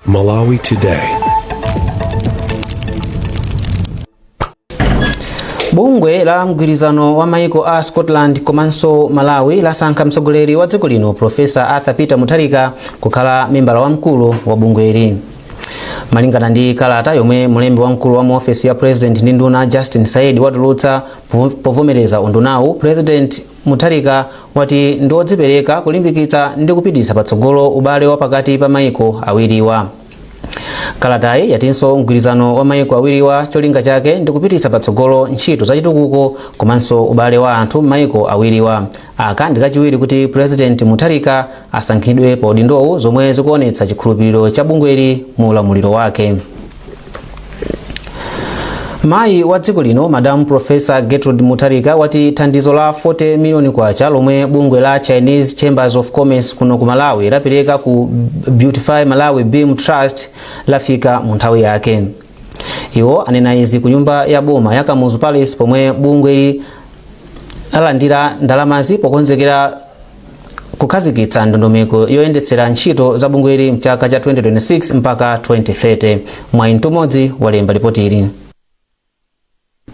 Malawi Today. bungwe la mgwirizano wa maiko a scotland komanso malawi lasankha mtsogoleri wa dziko lino profesa arthur peter mutharika kukhala membala wamkulu wa bungweli malingana ndi kalata yomwe mlembi wamkulu wa mu ofesi ya president ndi nduna justin saidi watulutsa povomereza undunawu president Mutharika wati ndi odzipereka kulimbikitsa ndi kupititsa patsogolo ubale wa pakati pa maiko awiriwa. Kalatayi yatinso mgwirizano wa maiko awiriwa cholinga chake ndi kupititsa patsogolo ntchito za chitukuko komanso ubale wa anthu m'maiko awiriwa. Aka ndi kachiwiri kuti Purezidenti Mutharika asankhidwe pa udindowu zomwe zikuonetsa chikhulupiriro cha bungweli mu ulamuliro wake. mayi wa dziko lino madam profesa gertrude mutharika wati thandizo la 40 miliyoni kwacha lomwe bungwe la chinese chambers of commerce kuno ku malawi lapereka ku beautify malawi beam trust lafika mu nthawi yake iwo anena izi ku nyumba ya boma ya kamuzu palace pomwe bungweli lalandira ndalamazi pokonzekera kukhazikitsa ndondomeko yoyendetsera ntchito za bungweli mchaka cha 2026 mpaka 2030 mwayi mtumodzi walemba lipotili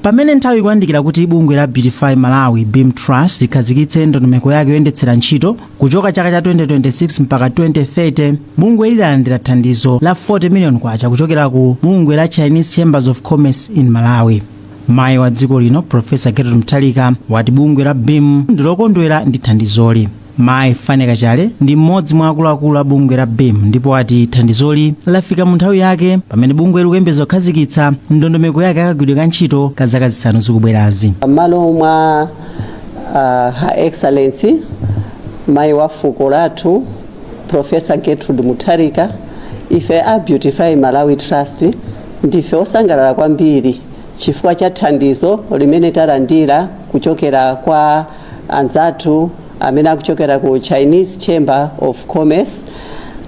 pamene nthawi ikuyandikira kuti bungwe la beautify malawi beam trust likhazikitse ndondomeko yake yoyendetsera ntchito kuchoka chaka cha 2026 mpaka 2030 bungweli lalandira thandizo la 40 million kwacha kuchokera ku bungwe la chinese chambers of commerce in malawi Mayi wa dziko lino Profesa Gertrude Mutharika wati bungwe la BEAM ndilokondwera ndi thandizoli. Mayi Fane Kachale ndi mmodzi mwa akuluakulu a bungwe la BEAM ndipo wati thandizoli lafika mu nthawi yake pamene bungweli likuyembeza kukhazikitsa ndondomeko yake yakagwiridwe ka ntchito ka zaka zisanu zikubwerazi. M'malo mwa uh, Her Excellency mayi wa fuko lathu Professor Gertrude Mutharika, Ife a Beautify Malawi Trust ndife osangalala kwambiri chifukwa cha thandizo limene talandira kuchokera kwa anzathu amene akuchokera ku Chinese Chamber of Commerce.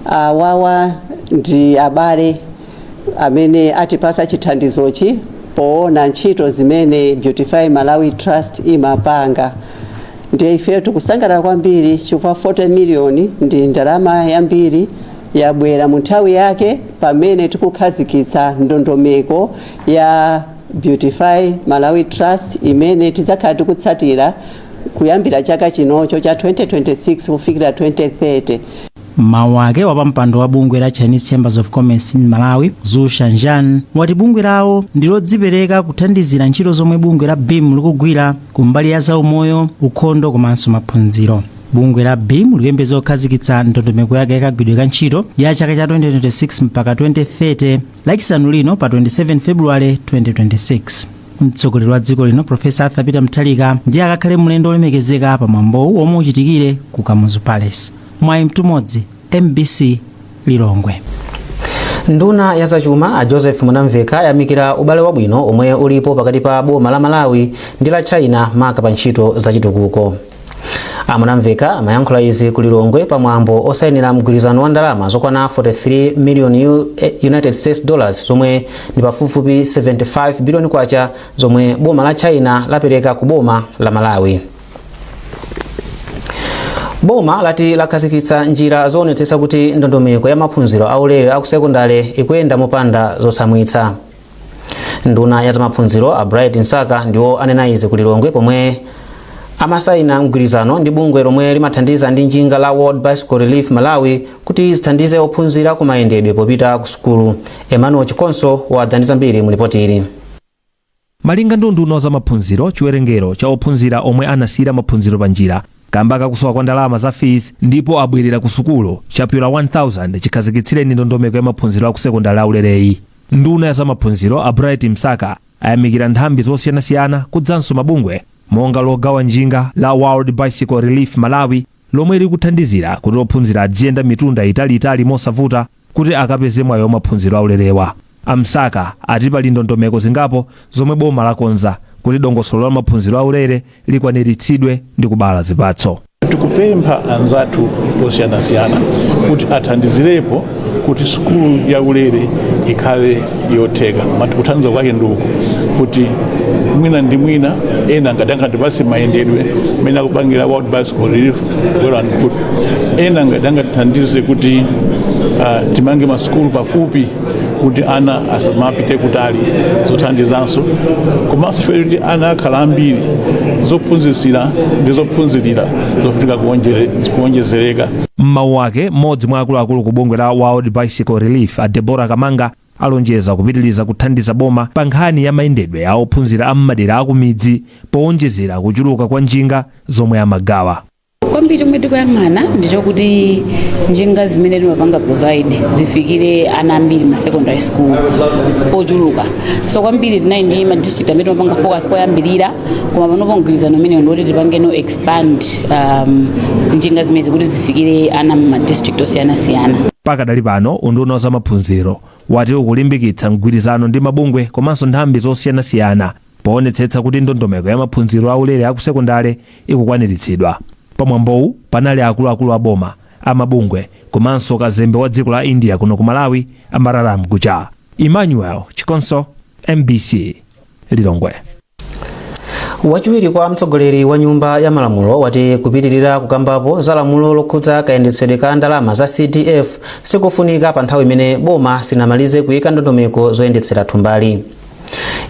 Awawa ndi abale amene atipasa chithandizochi poona ntchito zimene Beautify Malawi Trust imapanga. Ndiye ifeyo tikusangalala kwambiri chifukwa 40 million ndi ndalama yambiri yabwera mu nthawi yake pamene tikukhazikitsa ndondomeko ya Beautify Malawi Trust imene tidzakhala tikutsatira kuyambira chaka chinocho cha 2026 kufikira 2030. M'mawu ake, wapampando wa bungwe la Chinese Chambers of Commerce in Malawi, Zhu Shangyan, wati bungwe lawo ndi lodzipereka kuthandizira ntchito zomwe bungwe la beam likugwira ku mbali ya zaumoyo, ukhondo komanso maphunziro. Bungwe la beam likuyembekeza kukhazikitsa ndondomeko yake yakagwiridwe ka ntchito ya chaka cha 2026 mpaka 2030 lachisanu lino pa 27 February 2026. Mtsogoleri wa dziko lino Profesa Arthur Peter Mutharika ndiye akakhale mlendo wolemekezeka pa mwambowu womwe uchitikire ku Kamuzu Palace. mwayi mtumodzi mbc lilongwe nduna ya zachuma a joseph mwanamveka ayamikira ubale wabwino omwe ulipo pakati pa boma la malawi ndi la china maka pa ntchito zachitukuko a mwanamveka amayankhula izi ku lilongwe pa mwambo osayinira mgwirizano wa ndalama zokwana 43 million U- eh, united states dollars zomwe ndi pafupifupi 75 billion kwacha zomwe boma la china lapereka ku boma la malawi boma lati lakhazikitsa njira zoonetsetsa kuti ndondomeko ya maphunziro aulere akusekondale ikuyenda mopanda zotsamwitsa nduna ya zamaphunziro a bright msaka ndiwo anena izi ku lilongwe pomwe amasayina mgwirizano ndi bungwe lomwe limathandiza ndi njinga la world bicycle relief malawi kuti zithandize ophunzira kumayendedwe popita ku sukulu emmanuel chikonso wadza ndi zambiri mu lipoti ili Malinga ndi unduna wa zamaphunziro, chiwerengero cha ophunzira omwe anasiyira maphunziro panjira kamba kakusowa kwa ndalama za fees ndipo abwerera ku sukulu chapyola 1,000 chikhazikitsireni ndondomeko ya maphunziro akusekondale aulereyi. Nduna ya zamaphunziro a Bright Msaka ayamikira nthambi zosiyanasiyana kudzanso mabungwe monga logawa njinga la World Bicycle Relief Malawi lomwe likuthandizira kuti ophunzira adziyenda mitunda italiitali mosavuta kuti akapeze mwayi wa maphunziro aulerewa. A Msaka ati pali ndondomeko zingapo zomwe boma lakonza kuti dongosolo la maphunziro aulere likwaniritsidwe ndi kubala zipatso. tikupempha anzathu osiyanasiyana kuti athandizirepo kuti sukulu ya ulere ikhale yotheka Mat- kuthandiza kwake ndi uku kuti mwina ndi mwina ena ngati angatipase mayendedwe mmene akupangira world bicycle relief well and good ena ngati angatithandize kuti uh, timange masukulu pafupi kuti ana asamapite kutali zothandizanso komanso chifukwa kuti ana akhala ambiri zophunzitsira ndi zophunzirira zofunika kuonjere- kuonjezereka m'mawu ake mmodzi mwa akuluakulu ku bungwe la world bicycle relief a debora kamanga Alonjeza kupitiliza kuthandiza boma pa nkhani ya mayendedwe a ophunzira a m'madera a kumidzi powonjezera kuchuluka kwa njinga zomwe amagawa. kwambiri chomwe tikuyang'ana ndi chokuti njinga zimene timapanga provide zifikire ana ambiri ma secondary school ochuluka so kwambiri tinali ndi ma district amene timapanga focus poyambirira koma panopo mgwirizano umenewu ndiwoti tipangeno expand um, njinga zimenezi kuti zifikire ana m'ma district osiyanasiyana pakadali pano unduna wa zamaphunziro wati ukulimbikitsa mgwirizano ndi mabungwe komanso nthambi zosiyanasiyana poonetsetsa kuti ndondomeko ya maphunziro aulere akusekondale ikukwaniritsidwa pamwambowu panali akuluakulu a boma amabungwe komanso kazembe wa dziko la india kuno ku malawi amararam gujar emmanuel chikonso mbc lilongwe wachiwiri kwa mtsogoleri wa nyumba ya malamulo wati kupitirira kukambapo za lamulo lokhudza kayendetsedwe ka ndalama za cdf sikofunika pa nthawi imene boma sinamalize kuyika ndondomeko zoyendetsera thumbali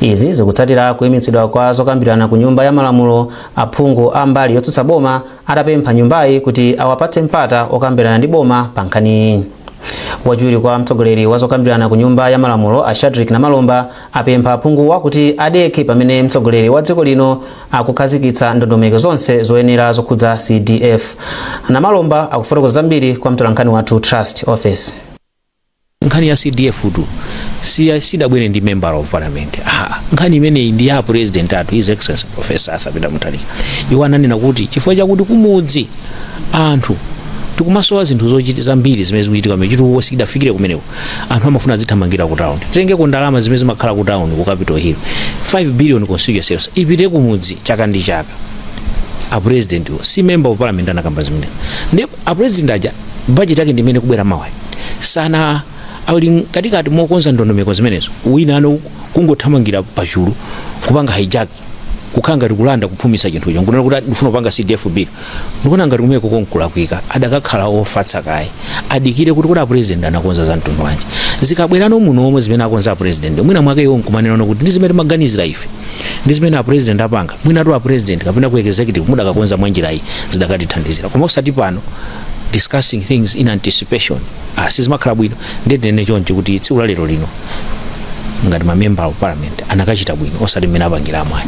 izi zikutsatira kuyimitsidwa kwa zokambirana ku nyumba ya malamulo aphungu a mbali yotsutsa boma atapempha nyumbayi kuti awapatse mpata okambirana ndi boma pa nkhaniyi wachiwiri kwa mtsogoleri wa zokambirana ku nyumba ya malamulo a shadrick namalomba apempha aphunguwa kuti adekhe pamene mtsogoleri wa dziko lino akukhazikitsa ndondomeko zonse zoyenera zokhudza CDF. Namalomba akufotokoza zambiri kwa mtolankhani wathu Trust Ofesi. nkhani ya cdf tu si- sidabwere ndi member of parliament Aha. nkhani imeneyi ndi ya president athu his excellency professor arthur peter mutharika iwo ananena kuti chifukwa chakuti kumudzi anthu tikumasowa zinthu zochiti zambiri zimene zikuchitika kumeneko chitukuko sichidafikire kumeneko anthu amafuna azithamangira ku town titengeko ndalama zimene zimakhala ku town ku capital hill 5 billion constituency yonse ipite ku mudzi chaka ndi chaka a president wo si member of parliament anakamba zimene ndi a president aja budget yake ndimene ikubwera mawa sana ali katikati mokonza ndondomeko zimenezo wina ano kungothamangira pachulu kupanga hijack kukhala ngati kulanda kuphumitsa chinthucho nkunena kuti "Ati ndifuna kupanga cdf bill ndikuona ngati kumeneko konkulakwika adakakhala ofatsa kaye adikire kuti kodi apurezidenti anakonza za mtundu wanji zikabwerano muno aone zimene akonza apurezidenti mwina mwake iwo nkumanenano kuti ndi zimene timaganizira ife ndi zimene apurezidenti apanga mwinatu apurezidenti kapena ku executive mudakakonza mwa njira iyi zidakatithandizira koma osati pano discussing things in anticipation ah, sizimakhala bwino ndiye tinene choncho kuti tsiku la lero lino ngati mamembala of parliament anakachita bwino osati mmene apangiramu ayi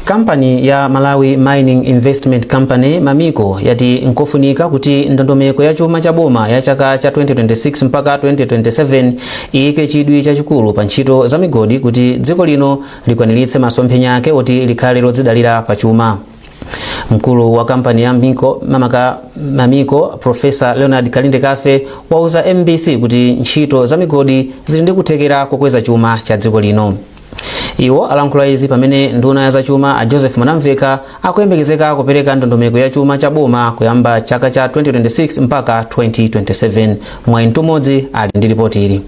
kampani ya malawi mining investment company mamico yati nkofunika kuti ndondomeko ya chuma cha boma ya chaka cha 2026 mpaka 2027 iyike chidwi chachikulu pa ntchito za migodi kuti dziko lino likwaniritse masomphenya ake oti likhale lodzidalira pa chuma Mkulu wa kampani ya Miko mamaka Mamico Profesa Leonard Kalindekafe wauza MBC kuti ntchito za migodi zili ndi kuthekera kokweza chuma cha dziko lino. Iwo alankhula izi pamene nduna ya zachuma a Joseph Mwanamveka akuyembekezeka kupereka ndondomeko ya chuma cha boma kuyamba chaka cha 2026 mpaka 2027. Mwayi Mtumodzi ali ndi ripoti ili.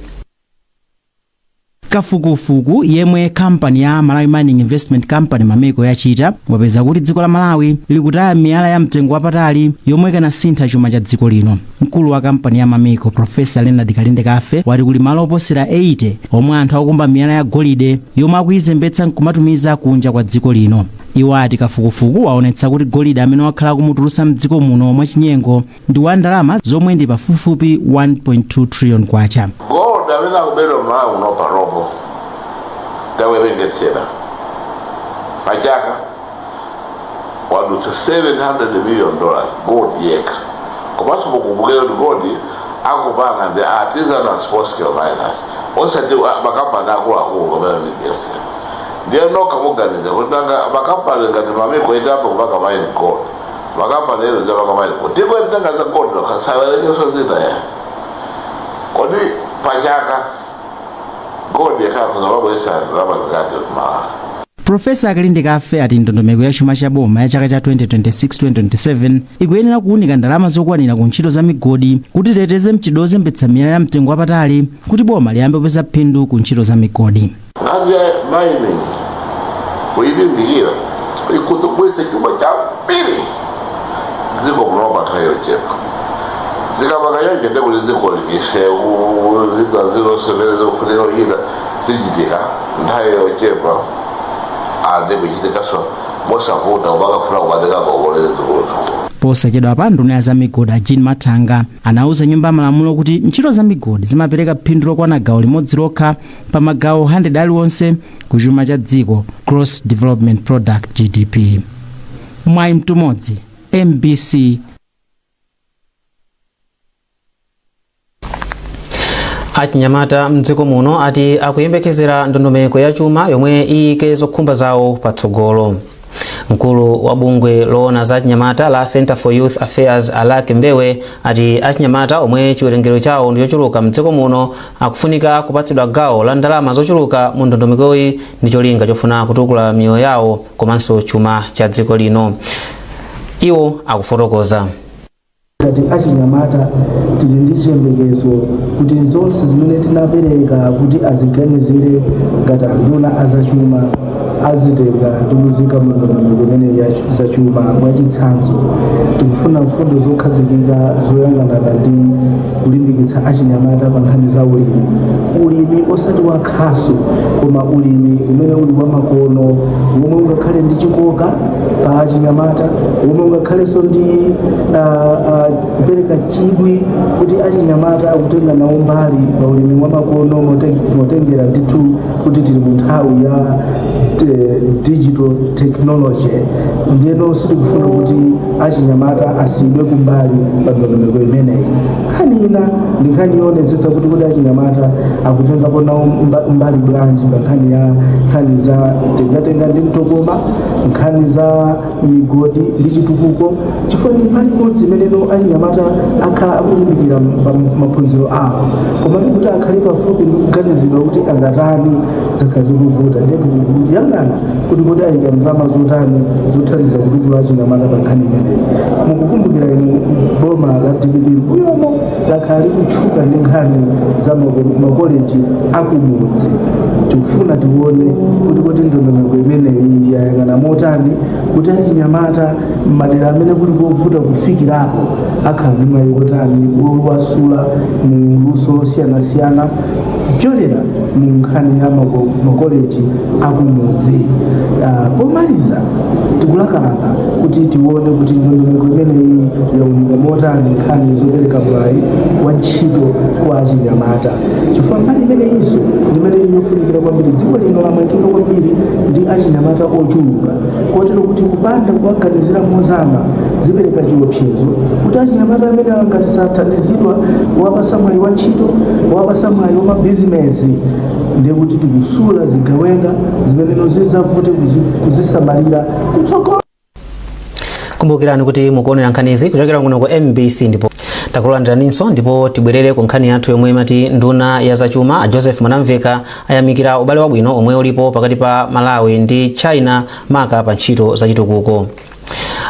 Kafukufuku yemwe kampani ya Malawi Mining Investment Company, Mamico, yachita wapeza kuti dziko la Malawi likutaya miyala ya mtengo wapatali yomwe ikanasintha chuma cha dziko lino. Mkulu wa kampani ya Mamico, Professor Leonard Kalindekafe, wati kuli malo oposera 80 omwe anthu akukumba miyala ya golide yomwe akuyizembetsa nkumatumiza kunja kwa dziko lino. Iwo ati kafukufuku waonetsa kuti golide amene wakhala akumutulutsa mdziko muno mwachinyengo ndi wa ndalama zomwe ndi pafupifupi 1.2 trillion kwacha. gold amene akubedwa m'malawi muno panopo tawerengesera pachaka wadutsa 700 million dollars gold yekha komanso mukumbukire kuti gold akupanga ndi artisanal small scale miners osati a- makampani akuluakulu kumene ndiyetu ndiye nokha muganiza kuti nanga makampani ngati Mamico itapo kupanga mine gold makampani ena azapanga mine gold ndipo ntanga za gold nokha muwerengese zinthu ya kodi pachaka gold yekhayo azabweresa ndalama zingati Malawi profesa Kalindekafe ati ndondomeko ya chuma cha boma ya chaka cha 2026-2027 ikuyenera kuwunika ndalama zokwanira ku ntchito za migodi kuti iteteze mchitidwe wozembetsa miyala ya mtengo wapatali kuti boma liyambe kupeza phindu ku ntchito za migodi Nkhani ya mining kuilimbikira ikhoza kubweretsa chuma chambiri dziko kuno pa nthawi yochepa zikapanga choncho ndi kuti dziko misewu zina zilizonse zofunika kuchita zichitika nthawi yochepa ande kuchitikanso mosavuta osamakafuna kukatenga ngongole zikuluzi posachedwapa nduna ya zamigodi a jean mathanga anauza nyumba ya malamulo kuti ntchito zamigodi zimapereka phindu lokwana gawo limodzi lokha pa magawo 100 aliwonse ku chuma cha dziko gross development product gdp mwayi mtumodzi mbc achinyamata mdziko muno ati akuyembekezera ndondomeko ya chuma yomwe iyike zokhumba zawo patsogolo Mkulu wa bungwe loona za achinyamata la Center for Youth Affairs Alick Mbewe ati achinyamata omwe chiwerengero chawo ndi chochuluka mdziko muno akufunika kupatsidwa gawo la ndalama zochuluka mu ndondomekoyi ndi cholinga chofuna kutukula miyoyo yawo komanso chuma cha dziko lino. Iwo akufotokoza. ngati achinyamata tili ndi chiyembekezo kuti zonse zimene tinapereka kuti aziganizire ngati anduna azachuma azitenga ndi kuziika mu ndondomeko imeneyi ya zachuma mwachitsanzo tikufuna mfundo zokhazikika zoyang'anana ndi kulimbikitsa achinyamata pa nkhani za ulimi ulimi osati wa khasu koma ulimi umene uli wamakono womwe ungakhale ndi chikoka pa achinyamata womwe ungakhalenso ndi kupereka chidwi kuti achinyamata akutenga nawo mbali pa ulimi wamakono mote- motengera ndithu kuti tili mu nthawi ya eh, digital technology ndiyeno sitikufuna kuti achinyamata asiyidwe kumbali pa ndondomeko imeneyi nkhani ina ndi nkhani yoonetsetsa kuti kuti achinyamata akutengapo nawo mba- mbali bwanji pa nkhani ya nkhani za tengatenga ndi mtokoma nkhani za migodi ndi chitukuko chifukwa ndi mbali imodzi imene achinyamata akhala akulimbikira pa maphunziro awo koma ndi kuti akhale pafupi ndi kuganizidwa kuti angatani zakhala zikuvuta ndipo kuyang'ana kuti kodi ayika ndalama zotani zothandiza kutukula achinyamata pa nkhani imeneyi mukukumbukira inu boma la dpp mbuyomo lakhala likutchuka ndi nkhani za mako- makoleji akumudzi tikufuna tione kuti kodi ndondomeko imeneyi yayang'ana motani kuti achinyamata m'madera amene kuli kovuta kufikirako akhala ndi mwayi wotani wowasula mu luso losiyanasiyana kupyolera mu nkhani ya mako- makoleji akumudzi Ah, pomaliza tikulakalaka kuti tione kuti ndondomeko imeneyi yaunika motani nkhani zopereka mwayi wa ntchito kwa achinyamata chifukwa mbali imeneyinso ndimene ili yofunikira kwambiri dziko lino lamangika kwambiri ndi achinyamata ochuluka kotero kuti kupanda kuwaganizira mozama zipereka chiopsezo kuti achinyamata amene angati sathandizidwa kuwapasa mwayi wa ntchito kuwapasa mwayi wa mabizinesi ndiye kuti tikusula zigawenga zimeneno zizavute kuzi- kuzisamalira kutsogolo kumbukirani kuti mukuonera nkhanizi kuchokera kuno ku mbc ndipo takulandiraninso ndipo tibwerere ku nkhani yathu yomwe imati nduna ya zachuma a joseph mwanamveka ayamikira ubale wabwino omwe ulipo pakati pa malawi ndi china maka pa ntchito zachitukuko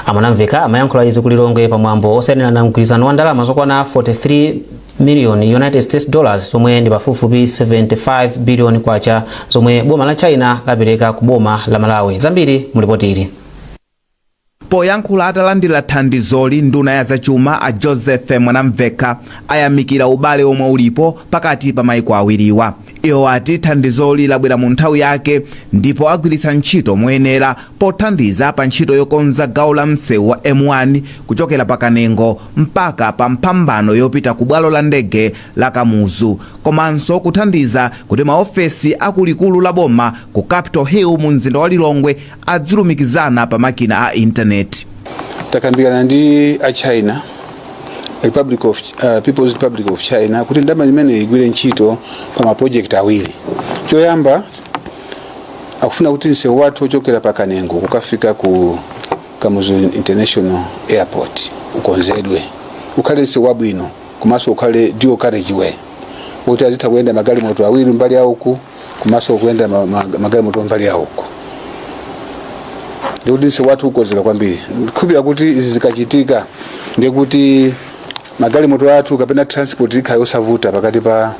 a mwanamveka amayankhula izi ku lilongwe pa mwambo osayinirana mgwirizano wa ndalama zokwana 43 miliyoni united states dollars zomwe ndi pafupifupi 75 biliyoni kwacha zomwe boma la china lapereka ku boma la malawi zambiri mu lipoti ili poyankhula atalandira thandizoli nduna ya zachuma a joseph mwanamveka ayamikira ubale omwe ulipo pakati pa maiko awiriwa Iwo ati thandizoli labwera mu nthawi yake ndipo agwiritsa ntchito moyenera pothandiza pa ntchito yokonza gawo la msewu wa M1 kuchokera pa Kanengo mpaka pa mphambano yopita ku bwalo la ndege la Kamuzu komanso kuthandiza kuti maofesi a ku likulu la boma ku Capital Hill mu mzinda wa Lilongwe adzilumikizana pa makina a intaneti. takambirana ndi a china people's republic of china kuti ndalama imene igwire ntchito pa mapojekiti awiri choyamba akufuna kuti msewu wathu ochokera pa kanengo kukafika ku kamuzu international airport ukonzedwe ukhale msewu wabwino komanso ukhale dual carriageway kuti azitha kuyenda magalimoto awiri mbali yauku komanso kuyenda ma- ma- magalimoto mbali ya uko ndikuti msewu wathu ukonzeka kwambiri ndikukhulupirira kuti izi zikachitika ndikuti magalimoto athu kapena transport ikhala yosavuta pakati pa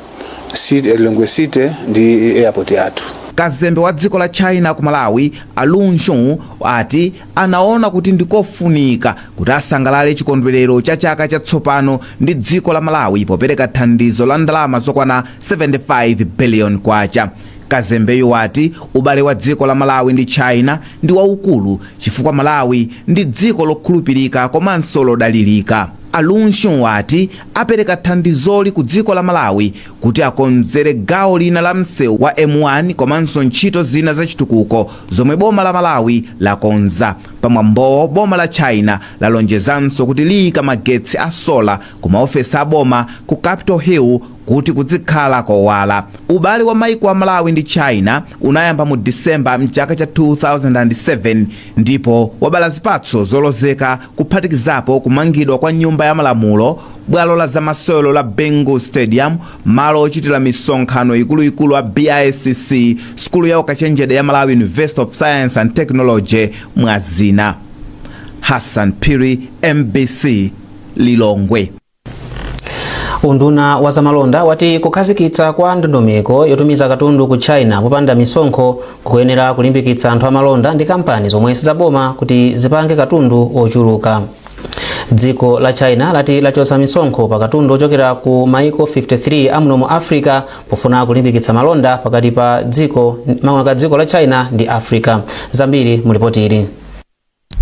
city- eh, lilongwe city ndi airport yathu kazembe wa dziko la china ku malawi a lun shung ati anaona kuti ndi kofunika kuti asangalale chikondwelero cha chaka cha tsopano ndi dziko la Malawi popereka thandizo la ndalama zokwana 75 billion kwacha. Kazembeyu wati ubale wa dziko la Malawi ndi China ndi waukulu chifukwa Malawi ndi dziko lokhulupirika komanso lodalirika. A Lun Xun wati apereka thandizoli ku dziko la Malawi kuti akonzere gawo lina la msewu wa M1 komanso ntchito zina zachitukuko zomwe boma la Malawi lakonza. Pa mwambowo, boma la China lalonjezanso kuti liika magetsi a sola ku maofesi a boma ku Capital Hill kuti kudzikhala kowala. Ubale wa maiko a Malawi ndi China unayamba mu December m'chaka cha 2007 ndipo wabala zipatso zolozeka kuphatikizapo kumangidwa kwa Nyumba ya Malamulo, bwalo la zamasewero la Bingu Stadium Malo ochitira misonkhano ikuluikulu a BICC, sukulu ya ukachenjede ya Malawi University of Science and Technology mwa zina. Hassan Phiri, mbc, Lilongwe. unduna wa zamalonda wati kukhazikitsidwa kwa ndondomeko yotumiza katundu ku china popanda misonkho kukuyenera kulimbikitsa anthu amalonda ndi kampani zomwe sizaboma kuti zipange katundu ochuluka dziko la china lati lachotsa misonkho pa katundu ochokera ku maiko 53 amuno mu africa pofuna kulimbikitsa malonda pakati pa dziko makamaka dziko la china ndi africa zambiri mu lipoti ili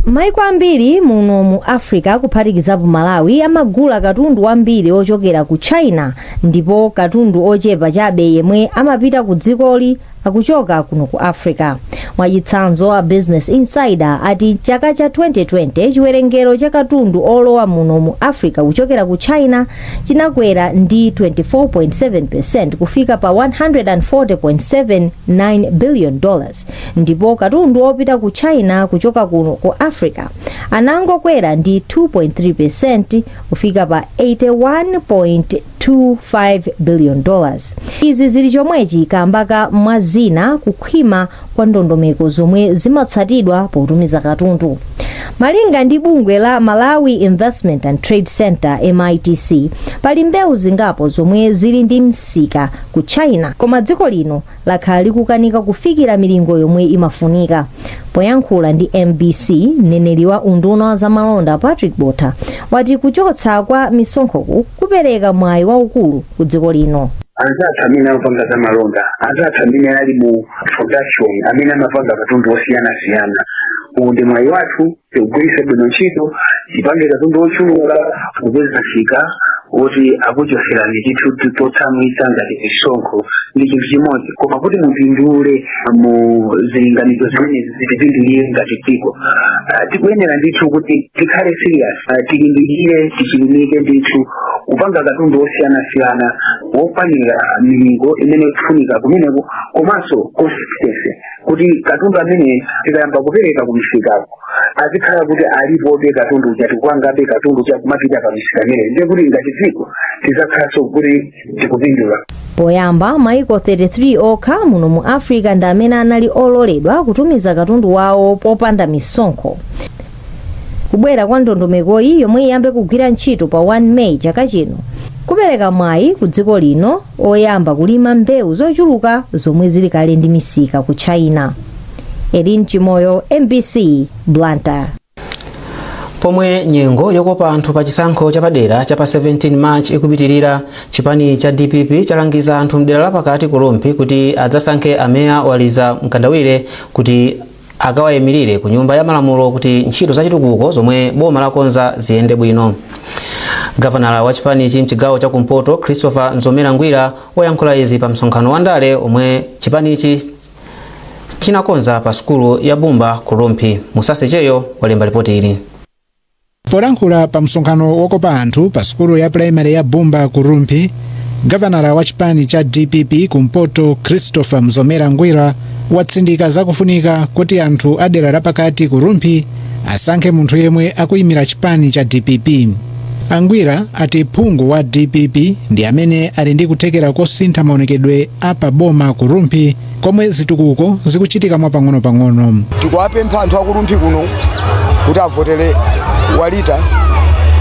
maiko ambiri muno mu africa kuphatikizapo malawi amagula katundu wambiri ochokera ku china ndipo katundu ochepa chabe yemwe amapita ku dzikoli akuchoka kuno ku africa mwachitsanzo a business insider ati chaka cha 2020 chiwerengero cha katundu olowa muno mu africa kuchokera ku china chinakwera ndi 24.7 percent kufika pa 140.79 billion dollars ndipo katundu wopita ku china kuchoka kuno ku africa anangokwera ndi 2.3 percent kufika pa 81. 1.25 billion dollars. Izi zili chomwechi kamba ka mwa zina kukhwima kwa ndondomeko zomwe zimatsatidwa potumiza katundu. Malinga ndi bungwe la Malawi Investment and Trade Centre, MITC, pali mbewu zingapo zomwe zili ndi msika ku China koma dziko lino lakhala likukanika kufikira milingo yomwe imafunika. Poyankhula ndi mbc, mneneri wa unduna wa zamalonda Patrick Botha wati kuchotsa kwa misonkhoku kupereka mwayi waukulu ku dziko lino. anzathu amene amapanga za malonda anzathu amene ali mu production amene amapanga katundu osiyanasiyana uwu ndi mwayi wathu tiugwiritse bwino ntchito tipange katundu wochuluka kupeza msika oti akuchoserani chinthu chotsamwitsa ngati misonkho ndi chinthu chimodzi koma kuti mupindule mu zilinganizo zimenezi zitipindulire ngati dziko Ah, tikuyenera ndithu kuti tikhale serious Ah, tilimbikire tichilimike ndithu kupanga katundu wosiyanasiyana wokwanira milingo imene ikufunika kumeneko komanso consistency kuti katundu amene tikayamba kupereka kumisikako azikhala kuti alipobe katundu uja tikupangabe katundu uja kumapita pa misika imeneyi ndiye kuti ngati dziko tizakhalanso kuti tikupindula poyamba maiko 33 okha muno mu africa ndi amene anali ololedwa kutumiza katundu wawo popanda misonkho Kubwera kwa ndondomekoyi yomwe iyambe kugwira ntchito pa 1 May chaka chino, kupereka mwayi ku dziko lino oyamba kulima mbewu zochuluka zomwe zili kale ndi misika ku China. Earlene Chimoyo, mbc, Blantyre. Pomwe nyengo yokopa anthu pa chisankho chapadera cha pa 17 March ikupitirira, chipani cha dpp chalangiza anthu mdera la pakati ku Rumphi kuti adzasankhe a Moir Walita Mkandawire kuti akawayimirire ku nyumba ya malamulo kuti ntchito za chitukuko zomwe boma lakonza ziyende bwino gavanala wa chipanichi mchigawo cha kumpoto christopher mzomera ngwira wayankhula izi pa msonkhano wa ndale omwe chipanichi chinakonza pa sukulu ya bumba ku rumphi musase cheyo walemba lipoti ili Polankhula pa msonkhano wokopa anthu pa sukulu ya pulaimale ya Bumba ku Rumphi, gavanala wa chipani cha dpp ku mpoto Christopher Mzomera Ngwira watsindika za kufunika kuti anthu a dera lapakati ku Rumphi asankhe munthu yemwe akuyimira chipani cha dpp. A Ngwira ati phungu wa dpp ndi amene ali ndi kuthekera kosintha maonekedwe a pa boma ku Rumphi komwe zitukuko zikuchitika mwapang'onopang'ono. tikuwapempha anthu a ku rumphi kuno kuti avotere walita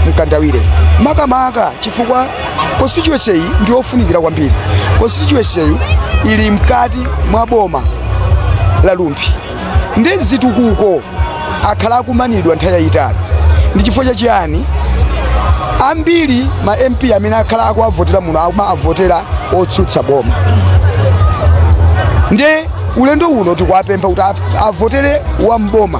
mkandawire makamaka chifukwa constituency iyi ndi yofunikira kwambiri constituency iyi ili mkati mwa boma la rumphi ndi zitukuko akhala akumanidwa nthawi yayitali ndi chifukwa cha chiyani ambiri ma mp amene akhala akuwavotera muno amavotera otsutsa boma ndi ulendo uno tikuwapempha kuti a- avotere wa mboma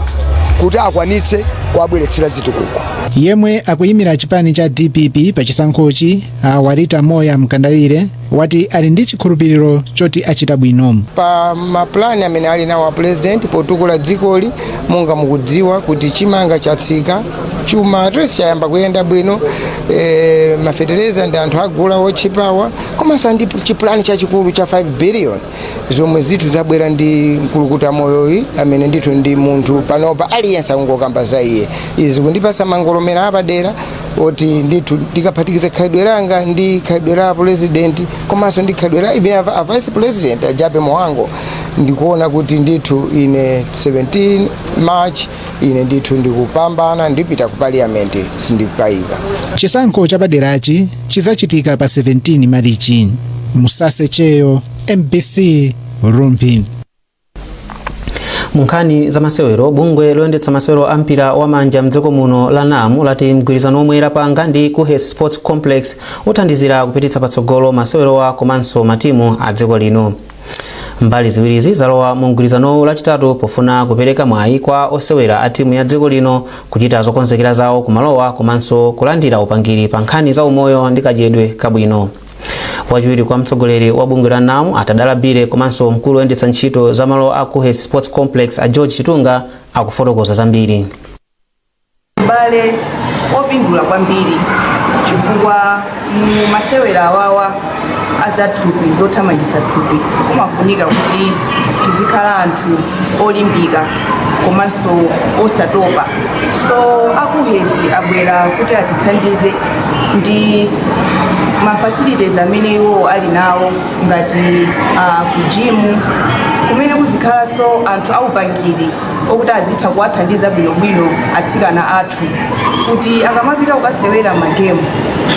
kuti akwanitse kuwabweretsera zitukuko yemwe akuyimira chipani cha dpp pa chisankhochi a walita moir mkandawire wati ali ndi chikhulupiriro choti achita bwino pa mapulani amene ali nawo a pulezidenti potukula dzikoli monga mukudziwa kuti chimanga chatsika chuma at least chayamba kuyenda bwino e, mafetereza ndi anthu agula otchipawa komanso ndi chipulani chachikulu cha 5 biliyoni zomwe zinthu zabwera ndi mkulukuta moyoyi amene ndithu ndi munthu panopa aliyense akungokamba za iye zikundipasa mangolomera apadera oti ndithu ndikaphatikiza khalidwe langa ndi khalidwe la pulezidenti komanso ndi khalidwe la even a vice president a jappie mhango ndikuona kuti ndithu ine 17 march ine ndithu ndikupambana ndipita ku paliyamenti sindikukayika chisankho chapaderachi chizachitika pa 17 marichi musase cheyo mbc rumphi munkhani za masewero bungwe loyendetsa masewero a mpira wa manja mdziko muno la NAM lati mgwirizano omwe lapanga ndi kuhes sports complex uthandizira kupititsa patsogolo masewerowa komanso matimu a dziko lino mbali ziwirizi zalowa mu mgwirizanowu lachitatu pofuna kupereka mwayi kwa osewera a timu ya dziko lino kuchita zokonzekera zawo kumalowa komanso kulandira upangiri pa nkhani za umoyo ndi kadyedwe kabwino wachiwiri kwa mtsogoleri wa bungwe la NAM a tadala billie komanso mkulu woyendetsa ntchito za malo a kuhes sports complex a george chitunga akufotokoza zambiri ubale opindula kwambiri chifukwa mu masewera awawa azathupi zothamangitsa thupi kumafunika kuti tizikhala anthu olimbika komanso osatopa so a kuhes abwera kuti atithandize ndi mafacilities amene iwo ali nawo ngati uh, kujimu kumene kuzikhalanso anthu aupangiri okuti azitha kuwathandiza bwinobwino atsikana athu kuti akamapita kukasewera magemu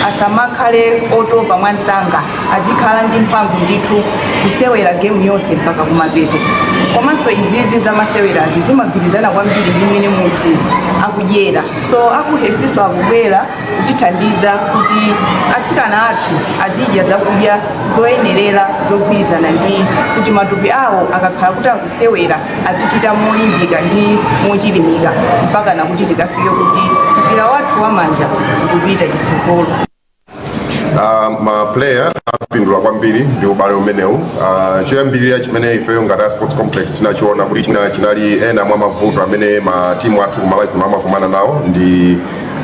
asamakhale otopa mwansanga azikhala ndi mphamvu ndithu kusewera gemu yonse mpaka kumapeto komanso izizi zamasewerazi zimagwirizana kwambiri ndi mmene munthu akudyera so akuhesiso akubwera kutithandiza kuti atsikana athu azidya zakudya zoyenerera zogwirizana ndi kuti matupi awo akakhala kuti akusewera adzichita molimbika ndi mochilimika mpakana kuti tikafike kuti mpira wathu wa manja ukupita chitsogolo Uh, maplayer apindula kwambiri ndi ubale umenewu uh, choyambirira chimene ifeyo ngati a sports complex tinachiona kuti chinali ena mwa mavuto amene matimu athu kumalawi kuno amakumana nawo ndi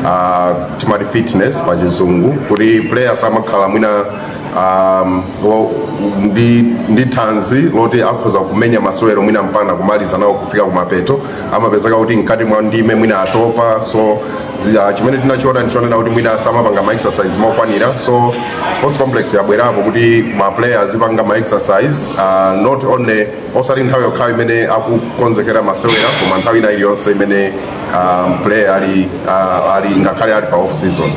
uh, timati fitness pa chizungu kuti players amakhala mwina um, lo- ndi, ndi thanzi loti akhoza kumenya masewero mwina mpana kumaliza nawo kufika kumapeto amapezeka kuti mkati mwa ndime mwina atopa so ya, chimene tinachiona ndichonena kuti mwina samapanga ma exercise mokwanira so sports complex yabwerapo kuti ma player azipanga ma exercise uh, not only osati nthawi yokhayo imene akukonzekera masewero koma nthawi ina iliyonse imene um, player ali, uh, ali ngakhale ali pa off season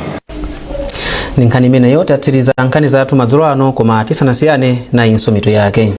ndi nkhani imeneyo tatsiriza nkhani zathu madzulo ano koma tisanasiyane nayinso mitu yake